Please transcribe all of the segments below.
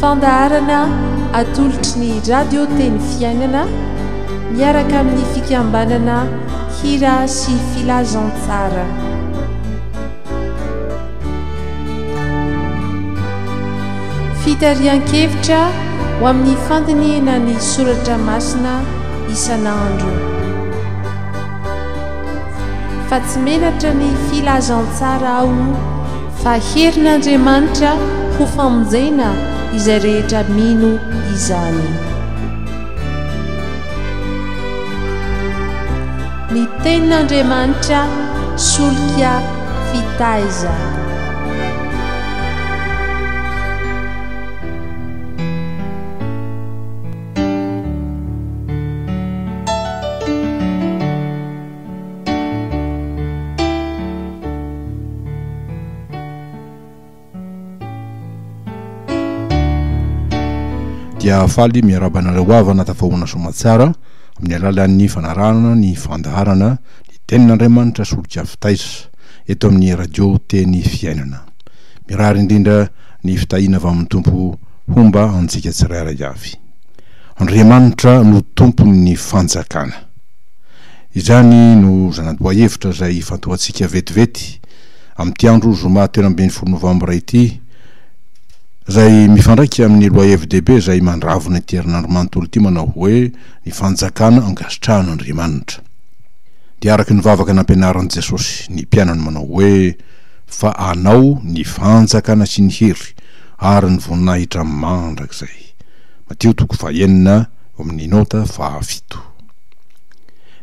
Fandaharana atolotry ny Radio Teny Fiainana miaraka amin'ny fikambanana Hira sy Filazantsara. Fitarihan-kevitra ho amin'ny fandinihana ny soratra masina isan'andro. Fa tsy menatra ny filazantsara aho. Fa herin'Andriamanitra ho famonjena izay rehetra mino izany. Ny Tenin'Andriamanitra solika fitaiza. dia faly miaraba anareo havana tafahoana somatsara amin'ny alalan'ny fanarahana ny fandaharana ny tenin'Andriamanitra solika fitaiza eto amin'ny radio teny fiainana. Mirary indrindra ny fitahiana avy amin'ny Tompo homba antsika tsirairay avy. Andriamanitra no tompon'ny fanjakana. Izany no zana-boahevitra izay ifantohantsika vetivety amin'ity andro zoma telo ambin'ny folo novambra ity, izay mifandraika amin'ny lohahevi-dehibe izay mandravona ity herinandro manontolo ity manao hoe ny fanjakana ankasitrahan'Andriamanitra. Dia araka ny vavaka nampianarin'i Jesosy ny mpianany manao hoe fa anao ny fanjakana sy ny hery ary ny voninahitra mandrakizay. Matio toko fahenina, eo amin'ny nota fahafito.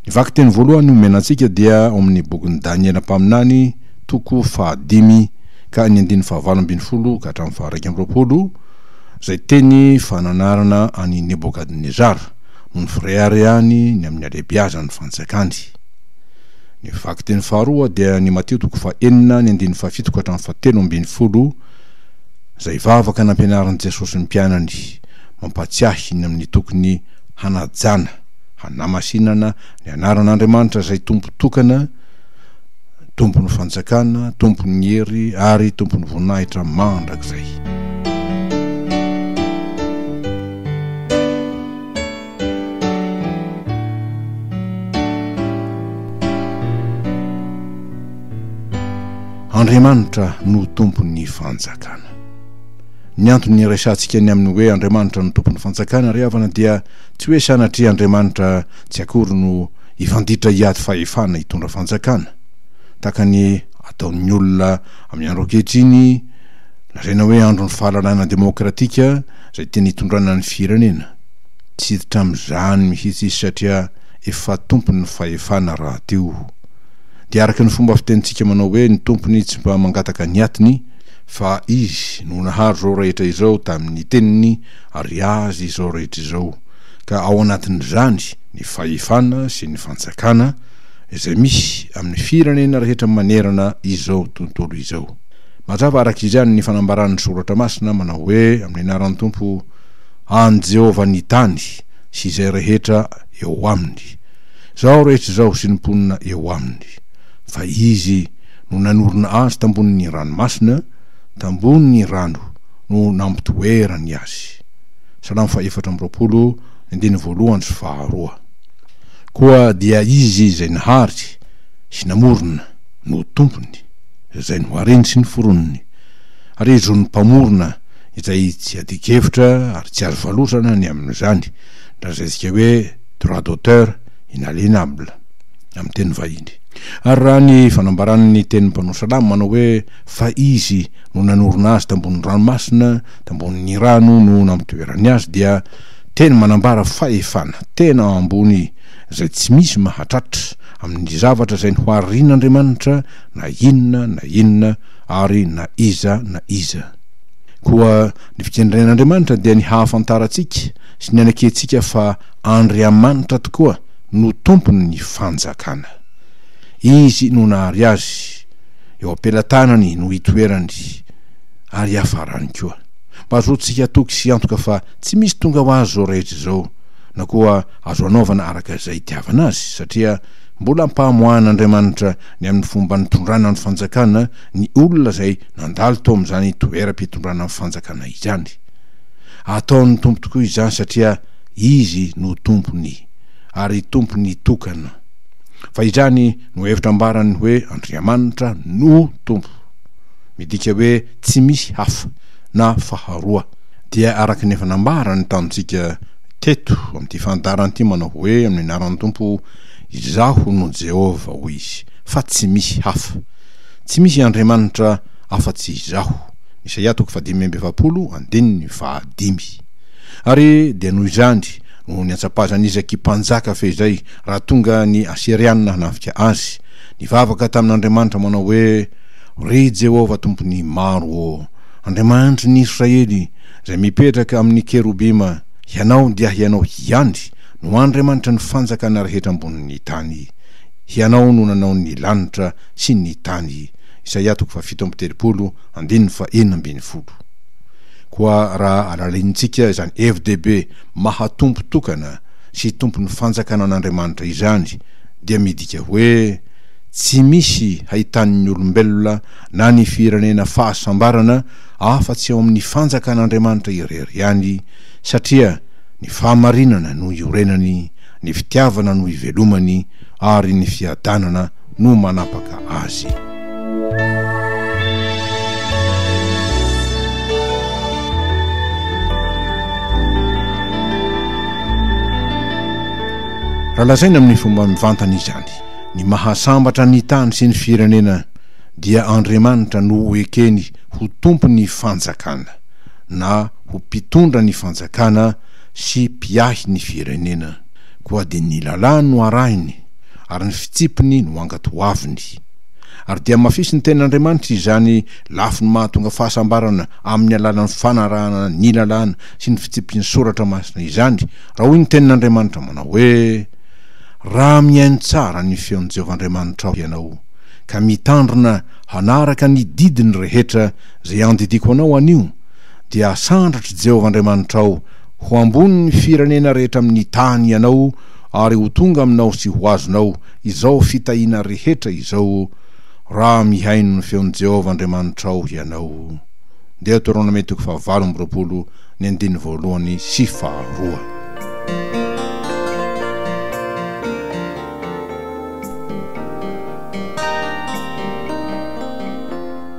Ny vakiteny voalohany omena antsika dia ao amin'ny bokin'i Daniela mpaminany, toko fahadimy ka ny andininy fahavalo ambin'ny folo ka hatramin'ny faharaika amby roapolo, izay teny fananarana an'i Nebokadnezara, no nifireharehany ny amin'ny halehibeazan'ny fanjakany. Ny vakiteny faharoa dia ny Mateo toko fahenina ny andininy fahafito ka hatramin'ny fahatelo ambin'ny folo, izay vavaka nampianarin'i Jesosy ny mpianany, mampahatsiahy ny amin'ny tokony hanajana, hanamasinana ny anaran'Andriamanitra izay Tompo tokana, Tompon'ny fanjakana, Tompon'ny hery ary Tompon'ny voninahitra mandrakizay. Andriamanitra no Tompon'ny fanjakana. Ny antony iresahantsika ny amin'ny hoe Andriamanitra no Tompon'ny Fanjakana ry havana dia tsy hoe sanatria Andriamanitra tsy akory no hifanditra hiady fahefana hitondra fanjakana, tahaka ny ataon'ny olona amin'ny andro ankehitriny lazaina hoe andron'ny fahalalahana demokratika izay tiany hitondrana ny firenena. Tsy hiditra amin'izany mihitsy izy satria efa tompon'ny fahefana rahateo. Dia araka ny fomba fitenintsika manao hoe ny tompony tsy mba mangataka ny atiny Fa Izy no nahary izao rehetra izao tamin'ny Teniny ary Azy izao rehetra izao, ka ao anatin'izany ny fahefana sy ny fantsakana izay misy amin'ny firenena rehetra manerana izao tontolo izao. Mazava araka izany ny fanambaran'ny Soratra Masina manao hoe amin'ny anaran'ny Tompo, an'i Jehovah ny tany sy izay rehetra eo aminy, izao rehetra izao sy ny mponina eo aminy. Fa Izy no nanorina azy tambonin' ny ranomasina, tambon' ny rano no nampitoera ny azy. Salamo fahefatra amby roapolo, andininy voalohany sy faharoa. Koa dia Izy izay nahary sy namorona no Tompony, izay no hareny sy ny foroniny, ary i Zon'ny Mpamorona izay tsy adikevitra ary tsy azo valosana ny amin' izany, drazantsika hoe droit d'auteur inalienable. amin'ny teny vahiny. Ary raha ny fanambaran'ny tenin'ny mpanao salamo manao hoe fa Izy no nanorina azy tambonin'ny ranomasina, tambonin'ny rano no nampitoerany azy dia teny manambara fahefana tena ambony izay tsy misy mahatratra amin'ny zavatra izay noharian'Andriamanitra na inona na inona ary na iza na iza. Koa ny fikendren'Andriamanitra dia ny hahafantarantsika sy ny hanakiantsika fa Andriamanitra tokoa no tompon' ny fanjakana. Izy no nahary azy, eo am-pelatanany no itoerany, ary hiafarany koa. Mba azontsika atoky sy antoka fa tsy misy tonga ho azy izao rehetra izao, na koa azo anaovana araka izay itiavana azy, satria mbola ampahamoahan' Andriamanitra ny amin' ny fomba nitondrana ny fanjakana ny olona izay nandalo tao amin' izany toeram-pitondrana ny fanjakana izany. Ataon' ny Tompo tokoa izany satria Izy no tompon' ny. ary tompo ny tokana. Fa izany no hevitra ambaran'ny hoe Andriamanitra no tompo. Midika hoe tsy misy hafa na faharoa. Dia araka ny efa nambarany tamintsika teto amin'ity fandaharana ity manao hoe amin'ny anaran'ny Tompo Izaho no Jehovah hoy izy fa tsy misy hafa. Tsy misy Andriamanitra afa-tsy Izaho. Isaia toko fahadimy amby efapolo andininy fahadimy. Ary dia noho izany Noho ny antsapazan' Izaky mpanjaka fehizay, raha tonga ny Asiriana hanafika azy, nivavaka tamin' Andriamanitra manao hoe, Ry Jehovah Tompon' ny maro ô, Andriamanitry ny Israely, izay mipetraka amin' ny kerobima, Hianao, dia Hianao hiandry, no Andriamanitry ny fanjakana rehetra ambonin' ny tany. Hianao no nanao ny lanitra sy ny tany. Isaia toko fahafito amby telopolo, andininy fahenina ambin'ny folo. Koa raha alalaintsika izany hevi-dehibe maha-tompo tokana sy tompon'ny fanjakana an'Andriamanitra izany, dia midika hoe tsy misy hahitan'ny olombelona na ny firenena fahasambarana afa-tsy ao amin'ny fanjakan'Andriamanitra irery ihany, satria ny fahamarinana no iorenany, ny fitiavana no ivelomany, ary ny fiadanana no manapaka azy. Raha lazaina amin'ny fomba mivantana izany, ny mahasambatra ny tany sy ny firenena dia Andriamanitra no ho ekeny ho tompon'ny fanjakana na ho mpitondra ny fanjakana sy mpiahy ny firenena. Koa dia ny lalàny no arahiny. ary ny fitsipiny no angatoaviny. Ary dia mafisy ny tenin'Andriamanitra izany lafiny mahatonga fahasambarana amin'ny alalan'ny fanarahana ny lalàna sy ny fitsipy ny Soratra Masina izany, raha hoy ny tenin'Andriamanitra manao hoe, Raha mihaino tsara ny feon'i Jehovah Andriamanitrao ianao, ka mitandrina hanaraka ny didiny rehetra izay andidiako anao anio, dia hasandratr'i Jehovah Andriamanitrao ho ambony ny firenena rehetra amin'ny tany ianao, Ary ho tonga aminao sy ho azonao izao fitahiana rehetra izao raha mihaino ny feon'i Jehovah Andriamanitrao ianao. Deoteronomia toko fahavalo amby roapolo, ny andininy voalohany sy faharoa.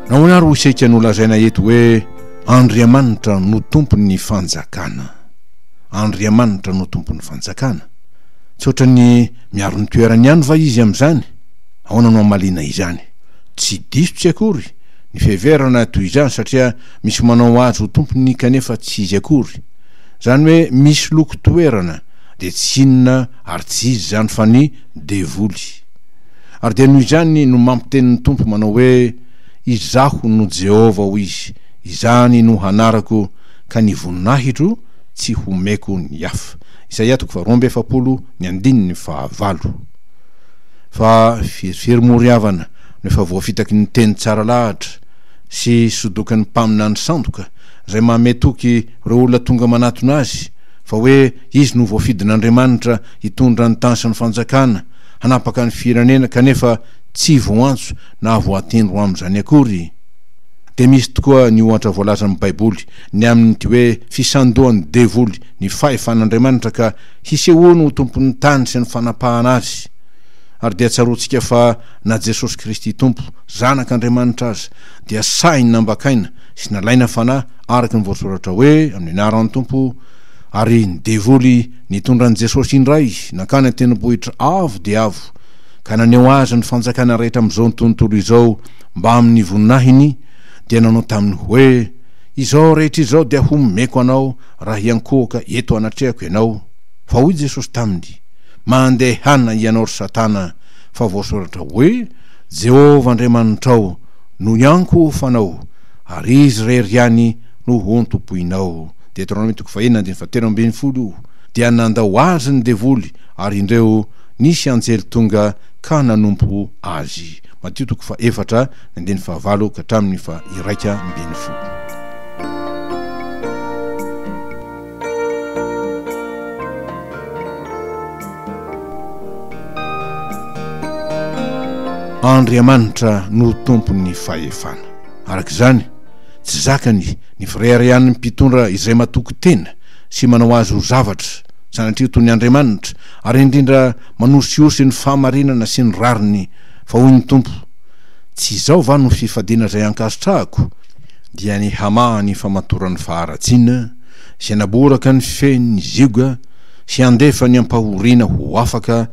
Nahoana àry ho isika no lazaina eto hoe Andriamanitra no Tompon'ny fanjakana? Andriamanitra no Tompon'ny Fanjakana. Tsy ohatran'ny miaro ny toerany ihany va Izy amin'izany? Ahoana no hamaliana izany? Tsy diso tsy akory ny fiheverana toy izany satria misy manao Azy ho Tompony kanefa tsy Izy akory. Izany hoe misy loko toerana dia tsy inona ary tsy iza izany fa ny devoly. Ary dia noho izany no mampiteny ny Tompo manao hoe, Izaho no Jehovah, hoy Izy, izany no hanarako, ka ny voninahitro tsy homeko ny hafa. Isaia toko faharoa amby efapolo, ny andininy fahavalo. Fa verivery moa ry havana no efa voafitaky ny teny tsara lahatra sy sodoky ny mpaminany sandoka izay mamehy toky ireo olona tonga manatona azy fa hoe izy no voafidin'Andriamanitra hitondra ny tany sy ny fanjakana hanapaka ny firenena kanefa tsy voantso na voatendro amin'izany akory. Dia misy tokoa ny ohatra voalazan'ny Baiboly ny amin'ity hoe fisandohan'ny devoly ny fahefan'Andriamanitra ka hisehoany ho tompon'ny tany sy ny fanapahana azy. Ary dia tsaroantsika fa na Jesosy Kristy Tompo, Zanak'Andriamanitra aza dia sahy nambakaina sy nalaina fanahy araka ny voasoratra hoe amin'ny anaran'ny Tompo, ary ny devoly nitondra an'i Jesosy indray nankany an-tendrombohitra avo dia avo ka naneho azy ny fanjakana rehetra amin'izao tontolo izao mbamin'ny voninahiny dia nanao taminy hoe Izao rehetra izao dia homeko anao raha hiankohoka eto anatrehako ianao. Fa hoy Jesosy taminy, Mandehana hianao ry Satana, fa voasoratra hoe, Jehovah Andriamanitrao no hiankohofanao, ary izy irery ihany no hontompoinao. Deteronomia toko fahenina andininy fahatelo ambin'ny folo Dia nandao azy ny devoly, ary indreo nisy anjely tonga ka nanompo azy. Matio toko fahefatra Andininy fahavalo ka hatramin'ny faha iraika ambin'ny folo. Andriamanitra no tompon'ny fahefana. Araka izany, tsy zakany ny fireharehan'ny mpitondra izay matoky tena sy manao azy ho zavatra sanatria toy ny andriamanitra ary indrindra manosihosy ny fahamarinana sy ny rariny fa hoy ny Tompo, Tsy izao va no fifadiana izay ankasitrahako? Dia ny hamaha ny famatoran'ny faharatsiana, sy hanaboraka ny fen'ny zioga, sy handefa ny ampahoriana ho afaka,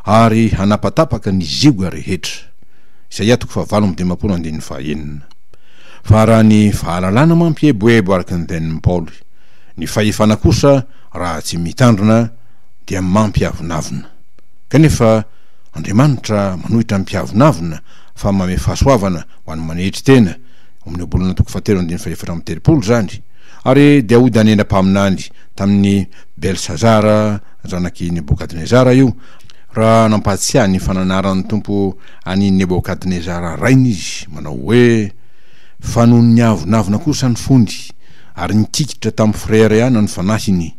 ary hanapatapaka ny zioga rehetra. Isaiah fahavalo amby dimampolo andininy fahaenina. Fa raha ny fahalalana mampieboebo araka ny tenin'i Paoly, ny fahefana kosa raha tsy mitandrina dia mampiavonavona. Kanefa, Andriamanitra manohitra ny mpiavonavona fa manome fahasoavana ho an'ny manetry tena, ao amin'ny Ohabolana toko fahatelo andininy fahefatra amby telopolo izany, ary dia ho Daniela mpaminany tamin'i Belsazara zanak'i Nebokadnezara io, raha nampahatsiahy ny fananaran'ny Tompo an'i Nebokadnezara rainy izy, manao hoe, Fa nony niavonavona kosa ny fony, ary nikikitra tamin'ny fireharehana ny fanahiny,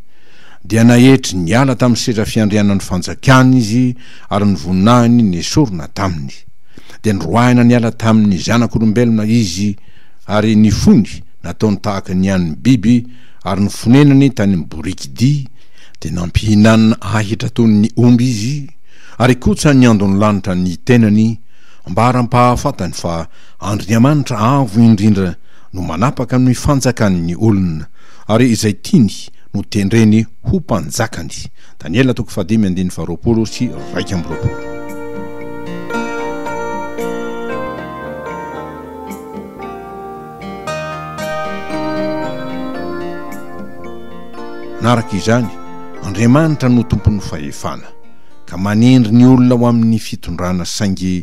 dia naetry niala tamin'ny seza fiandrianan'ny fanjakany izy ary ny voninahiny nesorina taminy. Dia niroahina niala tamin'ny zanak'olombelona izy ary ny fony nataony tahaka ny an'ny biby ary ny fonenany tany amin'ny boriky dia dia nampihinanana ahitra toy ny omby izy ary kotsa niandon'ny lanitra ny tenany mba haram-pahafatany fa Andriamanitra Avo Indrindra no manapaka ny fanjakan'ny olona Ary izay tiany no tendreny ho mpanjakany. Daniela toko fahadimy andininy faharoapolo sy iraika amby roapolo. Manaraka izany, Andriamanitra no tompon'ny fahefana, ka manendry ny olona ho amin'ny fitondrana, saingy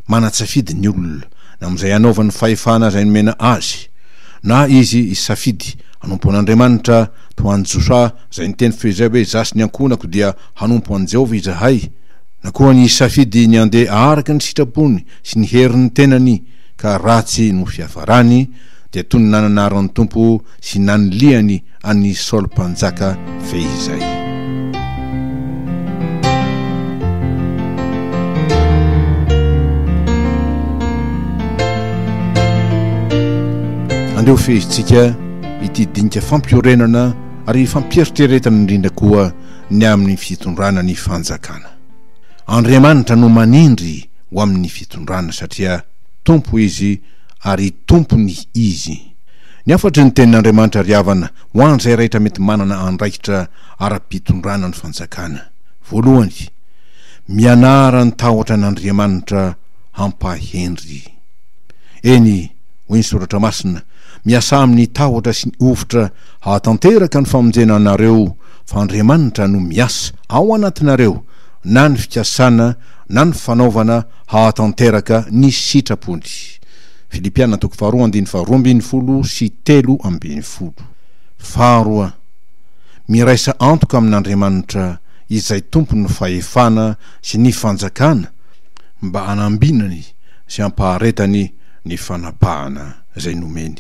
manatsafidy ny olona na amin'izay anaovany fahefana izay nomena azy, Na izy hisafidy hanompo an'Andriamanitra toa an'i Josoa izay niteny feo izay hoe, 'Izaho sy ny ankohonako dia hanompo an'i Jehovah izahay', na koa ny hisafidy ny handeha araka ny sitrapony sy ny herin'ny tenany ka ratsy no fiafarany, dia toy ny nananara ny Tompo sy nanilihany an'i Saoly Mpanjaka ve izay? Andeha ho fehezintsika ity dinika fampiorenana ary fampieritreretana indrindra koa ny amin'ny fitondrana ny fanjakana. Andriamanitra no manindry ho amin'ny fitondrana satria Tompo izy ary Tompony izy. Ny hafatry ny tenin'Andriamanitra ry havana ho an'izay rehetra mety manana andraikitra ara-pitondrana ny fanjakana. Voalohany, mianara ny tahotra an'Andriamanitra hampahendry. Eny, hoy ny Soratra Masina, miasà amin'ny tahotra sy ny hovitra hahatanteraka ny famonjena anareo, fa Andriamanitra no miasa ao anatinareo na ny fikasana na ny fanaovana hahatanteraka ny sitrapony. Filipiana toko faharoa andininy faharoa ambin'ny folo sy telo ambin'ny folo. Faharoa, miraisa antoka amin'Andriamanitra izay Tompon'ny fahefana sy ny fanjakana mba hanambinany sy hampaharetany ny fanapahana izay nomeny.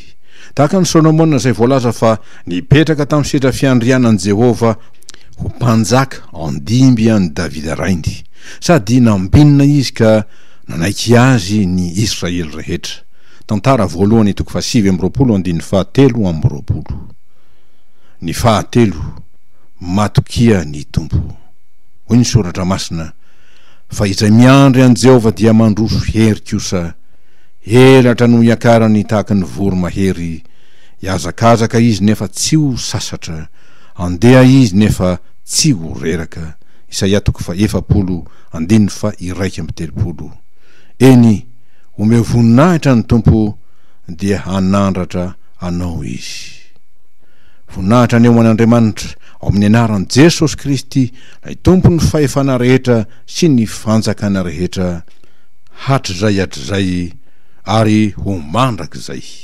Tahaka an'i Solomona izay voalaza fa nipetraka tamin'ny sedra fiandrianan'i Jehovah ho mpanjaka andimby an'i Davida rainy, sady nambinina izy ka Nanaiky azy ny Israely rehetra. Tantara voalohany toko fahasivy amby roapolo andininy fahatelo amby roapolo. Ny fahatelo, Matokia ny Tompo. Hoy ny Soratra Masina, Fa izay miandry an'i Jehovah dia mandroso hery kosa, elatra no hiakarany tahaka ny voromahery, hihazakazaka izy nefa tsy ho sasatra, handeha izy nefa tsy ho reraka. Isaia toko fahefapolo Andininy faha iraika amby telopolo. Eny, omeo voninahitra ny Tompo dia hanandratra anao Izy. Voninahitra ny ho an'Andriamanitra ao amin'ny anaran'i Jesosy Kristy ilay Tompon'ny fahefana rehetra sy ny fanjakana rehetra hatrizay hatrizay ary ho mandrakizay.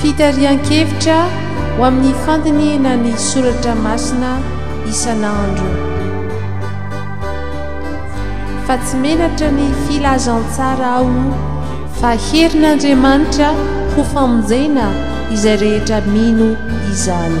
Fitarihan-kevitra ho amin'ny fandinihina ny soratra masina isan'andro. Fa tsy menatra ny filazantsara aho fa herin'Andriamanitra ho famonjena izay rehetra mino izany.